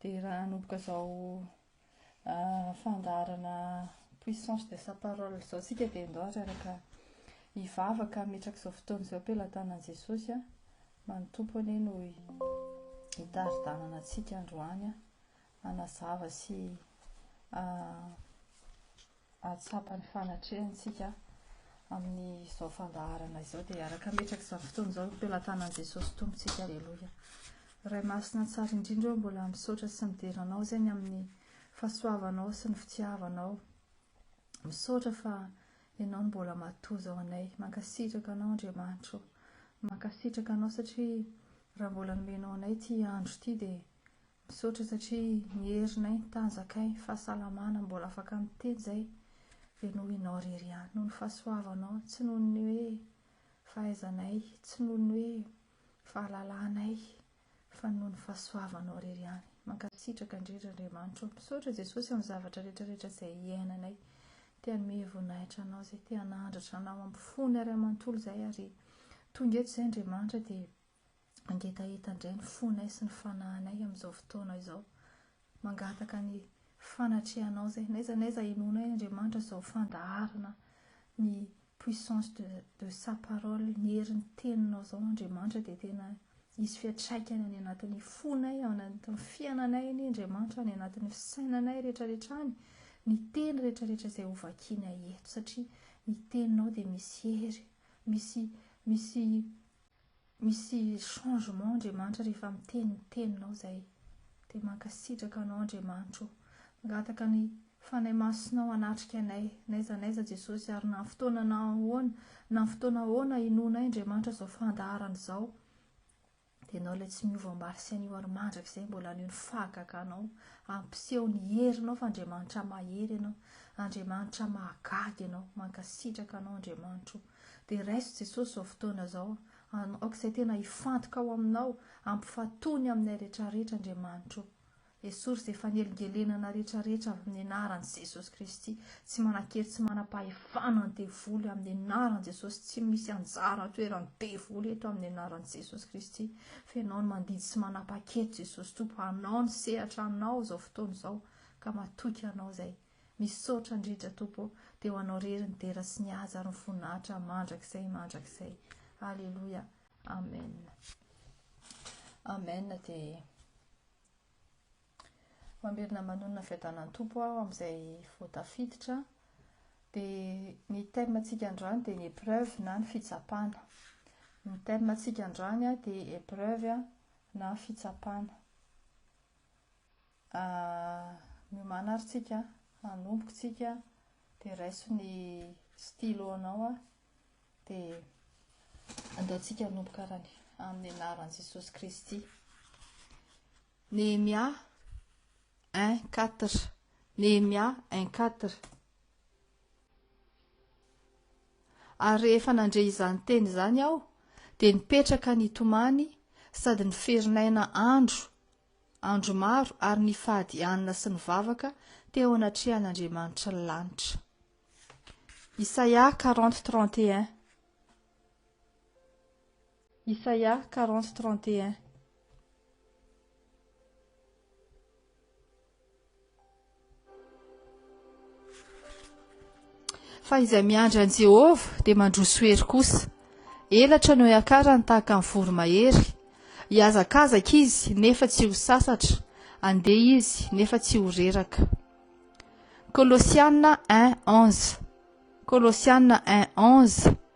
Dia raha hanomboka izao fandaharana puissance de sa parole izao isika dia ndao araraka hivavaka hametraka izao fotoana izao am-pelatanan'i Jesosy mba ny Tompo anie no hitari-dalana antsika androany hanazava sy hahatsapa ny fanatrehantsika amin'izao fandaharana izao dia araka hametraka izao fotoana izao ny pelatanan'i Jesosy Tompontsika Aleloia Ray Masina tsara indrindra ô mbola misaotra sy midera anao zegny amin'ny fahasoavanao sy ny fitiavanao misaotra fa ianao no mbola matoa izao anay mankasitraka anao Andriamanitro mankasitraka anao satria raha mbola nomenao anay ity andro ity dia Misaotra satria nierinay nitanjakay fahasalamana mbola afaka miteny zay ve noho ianao rery ihany noho ny fahasoavanao tsy noho ny hoe fahaizanay tsy noho ny hoe fahalalanay fa noho ny fahasoavanao rery ihany mankasitraka indrindra Andriamanitro misaotra Jesosy amin'ny zavatra rehetra rehetra izay iainanay te hanome voninahitra anao izay te hanandratra anao amin'ny fony ary amanontolo izay ary tonga eto izay Andriamanitra dia Mangetaheta indray ny fonay sy ny fanahinay amin'izao fotoana izao. Mangataka ny fanatrehanao izay. N'aiza n'aiza inoanay Andriamanitra izao fandaharana ny puissance de, de sa parole, ny herin'ny teninao izao Andriamanitra dia tena hisy fiantraikany any anatin'ny fonay, ao anatin'ny fiananay anie Andriamanitra, any anatin'ny fisainanay rehetrarehetra any ny teny rehetrarehetra izay hovakinay eto satria ny teninao dia misy hery, misy, misy Misy changement Andriamanitra rehefa miteny ny teninao zay de mankasitraka anao Andriamanitra o! Mangataka ny Fanahy Masinao hanatrika anay n'aiza n'aiza Jesosy ary na fotoana na ahoana na fotoana ahoana hinoanay Andriamanitra zao fandaharana izao de Ianao ilay tsy miova omaly sy anio ary mandrakizay mbola anio ny fahagaganao ampiseho ny herinao fa Andriamanitra mahery Ianao Andriamanitra mahagaga Ianao mankasitraka anao Andriamanitra o! Dia raiso Jesosy izao fotoana izao, an, aoka izay tena hifantoka ao Aminao, ampifatony aminay retraretra Andriamanitra o. Esory izay fanelingelenana retraretra avy amin'ny anaran'i Jesosy Kristy, tsy manan-kery tsy manam-pahefana ny devoly amin'ny anaran'i Jesosy, tsy misy anjara an-toeran'ny devoly eto amin'ny anaran'i Jesosy Kristy, fa Ianao no mandidy sy manapa-keto Jesosy Tompo, hanao ny sehatra Anao izao fotoana izao, ka matoky Anao izay. Misaotra indrindra Tompo ô, dia ho Anao irery ny dera sy ny haja ary ny voninahitra mandrakizay mandrakizay. Aleloia. Amen. Amen dia mamerina manonona fiadanan'ny Tompo aho amin'izay vao tafiditra. Dia ny thème antsika androany dia ny épreuve na ny fitsapana. Ny thème antsika androany dia épreuve na fitsapana. A miomàna ary tsika hanomboka tsika dia raiso ny stylo anao a dia andao tsika hanomboka arany amin'ny anaran'i Jesosy Kristy Nehemia un quatre Nehemia un quatre ary rehefa nandre izany teny izany aho dia nipetraka nitomany sady niferin'aina andro Andro maro ary nifady hanina sy nivavaka teo anatrehan'Andriamanitry ny lanitra. Isaia quarante trente et un Isaia quarante trente et un Fa izay miandry an'i Jehovah dia mandroso hery kosa. Elatra no hiakarany tahaka ny voromahery. Hihazakazaka izy nefa tsy ho sasatra, handeha izy nefa tsy ho reraka. Kolosiana 1:11. Kolosiana 1:11.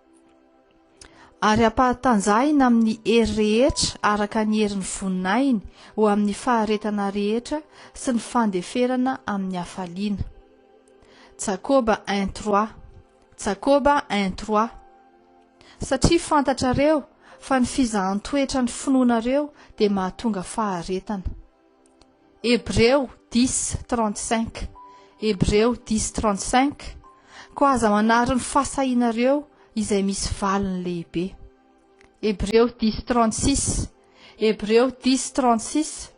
ary ampahatanjahina amin'ny hery rehetra araka ny herin'ny voninahiny ho amin'ny faharetana rehetra sy ny fandeferana amin'ny hafaliana. Jakoba 1:3 Jakoba 1:3 Satria fantatrareo fa ny fizahan-toetra ny finoanareo dia mahatonga faharetana. Hebreo, dix, trente cinq, Hebreo, dix, trente cinq, Koa aza manary ny fahasahianareo izay misy valiny lehibe. Hebreo, dix, trente six, Hebreo, dix, trente six,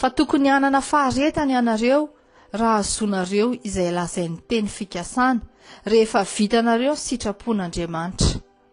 Fa tokony hanana faharetana ianareo raha azonareo izay lazain'ny teny fikasana, rehefa vitanareo ny sitrapon'Andriamanitra.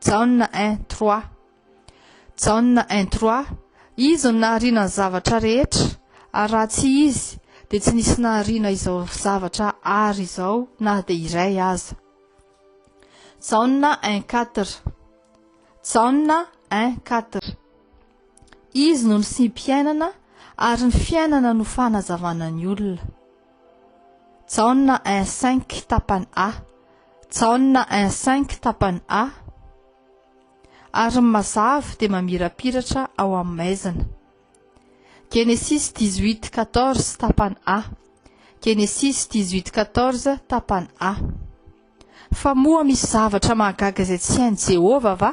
Jaona un trois Jaona un trois Izy no nahariana ny zavatra rehetra, ary raha tsy Izy dia tsy nisy nahariana izao zavatra àry izao na dia iray aza. Jaona un quatre Jaona un quatre Izy no nisim-piainana, ary ny fiainana no fanazavana ny olona. Jaona un cinq tapany A. Jaona un cinq tapany A. Ary ny mazava dia mamirapiratra ao amin'ny maizina. Genesis 18 14 tapany A. Genesis 18 14 tapany A. Fa moa misy zavatra mahagaga izay tsy hain'i Jehovah va?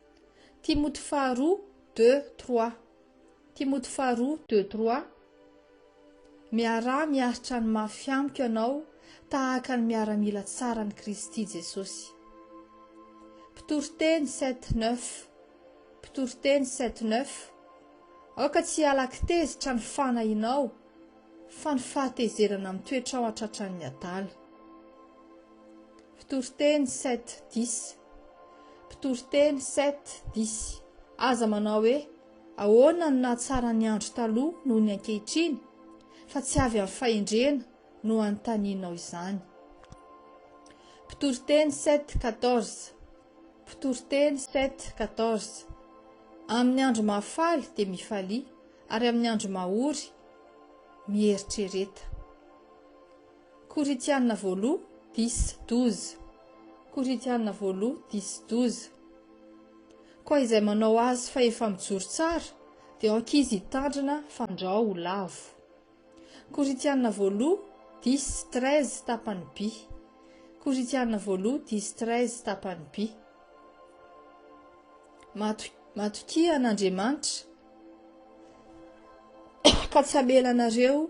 Timoty faharoa, deux, trois. Timoty faharoa, deux, trois. Miaraha miaritra ny mafy amiko ianao tahaka ny miaramila tsaran'i Kristy Jesosy. Mpitoriteny, sept, neuf. Mpitoriteny, sept, neuf. Aoka tsy hiala-kitezitra ny fanahinao, fa ny fahatezerana mitoetra ao an-tratran'ny adala. Mpitoriteny sept dix Mpitoriteny sept dix Aza manao hoe ahoana no nahatsara ny andro taloha noho ny ankehitriny, fa tsy avy amin'ny fahendrena no anontanianao izany. Mpitoriteny sept quatorze Mpitoriteny sept quatorze Amin'ny andro mahafaly dia mifalia, ary amin'ny andro mahory mieritrereta. Korintiana voaloha dix douze Korintiana voaloha dix douze Koa izay manao azy fa efa mijoro tsara dia aoka izy hitandrina fandrao ho lavo Korintiana voaloha dix treize tapany by Korintiana voaloha dix treize tapany by Mato, Matokia an'Andriamanitra ka tsy hamela anareo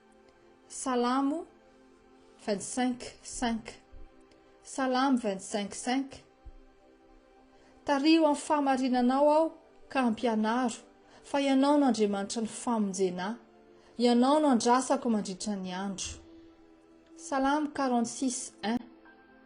Salamo vingt cinq cinq Salamo vingt cinq cinq Tariho amin'ny fahamarinanao aho ka ampianaro fa ianao no Andriamanitra ny famonjena ahy, ianao no andrasako mandritra ny andro. Salamo quarante six un.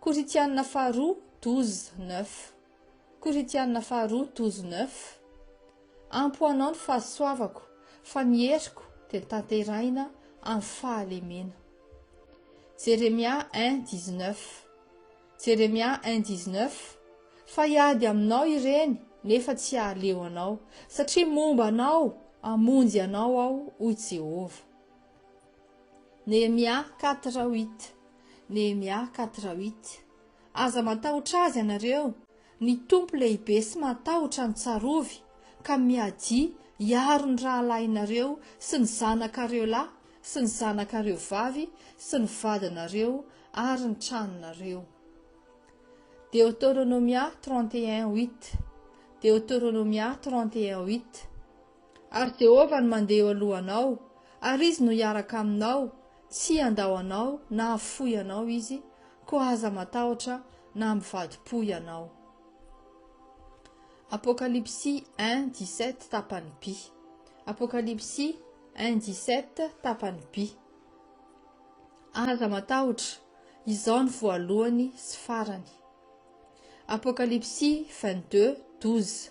Korintiana Faharoa douze, neuf Korintiana Faharoa douze, neuf Ampo ho anao ny fahasoavako, fa ny heriko dia tanterahina amin'ny fahalemena. Jeremia un, dix, neuf Jeremia un, dix, neuf Fa hiady aminao ireny, nefa tsy hahaleo anao, satria momba anao hamonjy anao Aho, hoy Jehovah. Nehemia quatre huit Nehemia quatre huit Aza matahotra azy ianareo, ny Tompo lehibe sy mahatahotra no tsarovy, ka miadia hiaro ny rahalahinareo sy ny zanakareo lahy sy ny zanakareo vavy sy ny vadinareo ary ny tranonareo. Deoteronomia trente et un huit Deoteronomia trente et un huit Ary Jehovah no mandeha eo alohanao, ary izy no hiaraka aminao, tsy handao anao na hahafoy anao izy, koa aza matahotra na hamivadi-po ianao. Apokalypsy un dix sept tapany by Apokalypsy un dix sept tapany by Aza matahotra, izao no voalohany sy farany. Apokalypsy vingt deux douze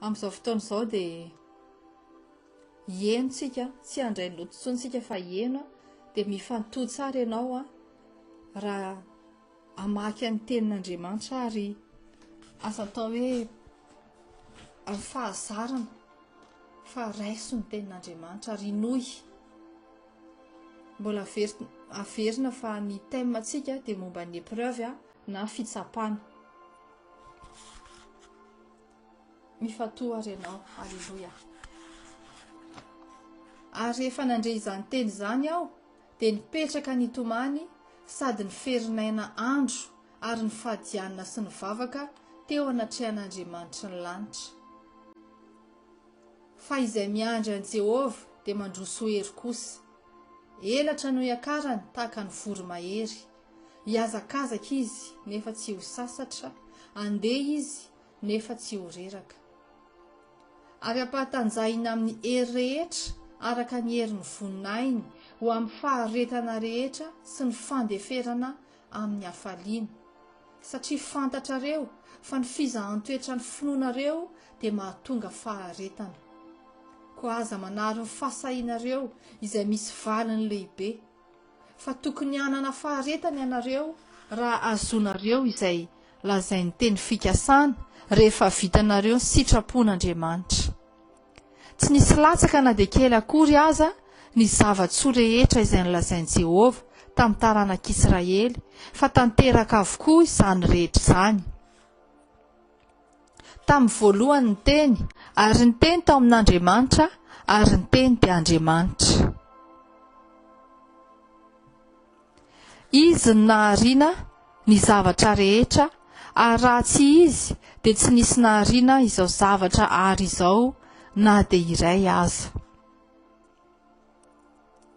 Amin'izao fotoana izao dia hieno tsika, tsy handray ny loto intsony tsika fa hieno dia mifantoha tsara ianao raha hamaky ny tenin'Andriamanitra ary aza atao hoe amin'ny fahazarana fa raiso ny tenin'Andriamanitra ary hinoy. Mbola averina averina fa ny thème antsika dia momba ny épreuve na fitsapana. Mifantoha ary ianao. Aleloia. Ary rehefa nandre izany teny izany aho, dia nipetraka nitomany sady ny ferin'aina andro ary ny fadianina sy ny vavaka teo anatrehan'Andriamanitry ny lanitra. Fa izay miandry an'i Jehovah dia mandroso hery kosa. Elatra no iakarany tahaka ny voromahery, Hihazakazaka izy nefa tsy ho sasatra, handeha izy nefa tsy ho reraka. Ary ampahatanjahina amin'ny hery rehetra araka ny herin'ny voninahiny ho amin'ny faharetana rehetra sy ny fandeferana amin'ny hafaliana, satria fantatrareo fa ny fizahan-toetran'ny finoanareo dia mahatonga faharetana. Koa aza manary ny fahasahianareo izay misy valiny lehibe. fa tokony hanana faharetana ianareo raha azonareo izay lazain'ny teny fikasana rehefa vitanareo ny sitrapon'Andriamanitra. Tsy nisy latsaka na dia kely akory aza ny zava-tsoa rehetra izay nolazain'i Jehovah tamin'ny taranak'Israely, fa tanteraka avokoa izany rehetra izany. Tamin'ny voalohany ny Teny, ary ny Teny tao amin'Andriamanitra, ary ny Teny dia Andriamanitra. Izy no nahariana ny zavatra rehetra, ary raha tsy Izy dia tsy nisy nahariana izao zavatra ary izao na dia iray aza.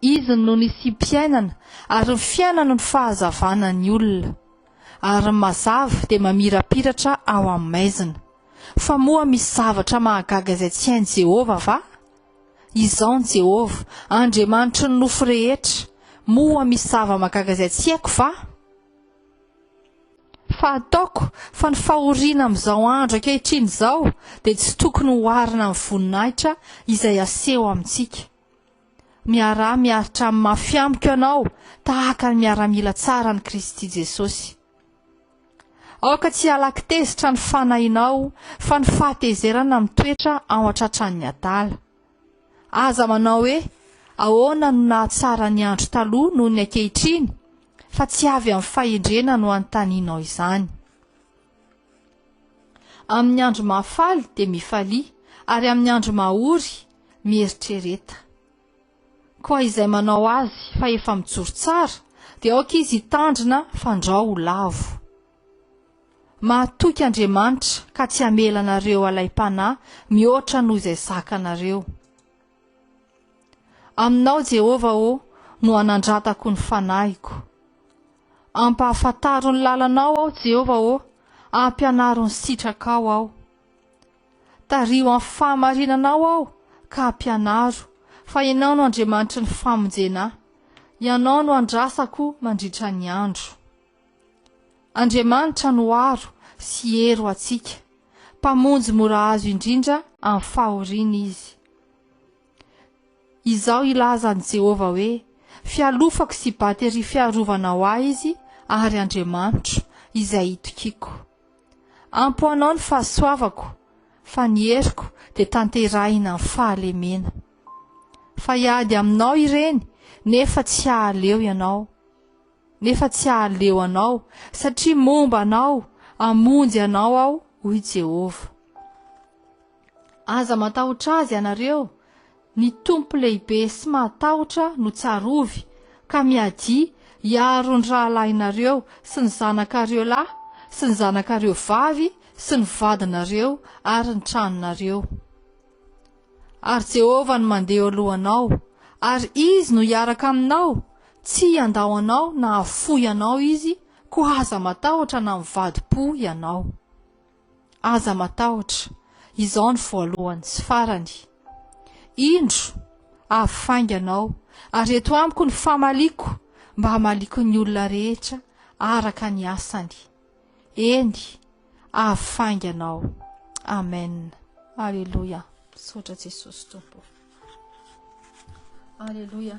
Izy no nisiam-piainana ary ny fiainana no fahazavana ny olona, ary ny mazava dia mamirapiratra ao amin'ny maizina. Fa moa misy zavatra mahagaga izay tsy hain'i Jehovah va? Izaho ny Jehovah, Andriamanitry ny nofo rehetra. Moa misy zava-mahagaga izay tsy haiko va? Fa ataoko fa ny fahoriana amin'izao andro ankehitriny izao dia tsy tokony hoharina amin'ny voninahitra izay aseho amintsika. Miaraha miaritra amin'ny mafy amiko ianao tahaka ny miaramila tsara an'i Kristy Jesosy. Aoka tsy halaky tezitra ny fanahinao fa ny fahatezerana mitoetra ao an-tratran'ny adala. Aza manao hoe, Ahoana no nahatsara ny andro taloha noho ny ankehitriny? fa tsy avy amin'ny fahendrena no anontanianao izany. Amin'ny andro mahafaly dia mifalia, ary amin'ny andro mahory mieritrereta. Koa izay manao azy fa efa mijoro tsara, dia aoka izy hitandrina fandrao ho lavo. Mahatoky Andriamanitra ka tsy hamela anareo halaim-panahy mihoatra noho izay zakanareo. Aminao, Jehovah ô, no anandratako ny fanahiko. Ampahafantaro ny lalanao aho, Jehovah ô, ampianaro ny sitrakao aho. Tariho amin'ny fahamarinanao aho ka ampianaro, fa ianao no Andriamanitry ny famonjena ahy. Ianao no andrasako mandritra ny andro. Andriamanitra no aro sy hery ho antsika, Mpamonjy mora azo indrindra amin'ny fahoriana Izy. Izao hilaza an'i Jehovah hoe, Fialofako sy bateria fiarovana ho ahy Izy, ary Andriamanitro, izay itokiako. Ampy ho anao ny fahasoavako, fa ny heriko dia tanterahina amin'ny fahalemena. Fa hiady aminao ireny, nefa tsy hahaleo ianao. nefa tsy hahaleo anao, satria momba anao, hamonjy anao aho, hoy Jehovah. Aza matahotra azy ianareo, ny Tompo lehibe sy mahatahotra no tsarovy, ka miadia hiaro ny rahalahinareo sy ny zanakareo lahy sy ny zanakareo vavy sy ny vadinareo ary ny tranonareo. Ary Jehovah no mandeha eo alohanao, ary Izy no hiaraka aminao, tsy hiandao anao na hahafoy anao Izy, koa aza matahotra na mivadi-po ianao. Aza matahotra, Izaho no voalohany sy farany. Indro, avy fainga anao, ary eto amiko ny famaliako, mba hamaliako ny olona rehetra araka ny asany. Eny, avy faingana aho. Amen. Aleloia. Misaotra Jesosy Tompo. Aleloia.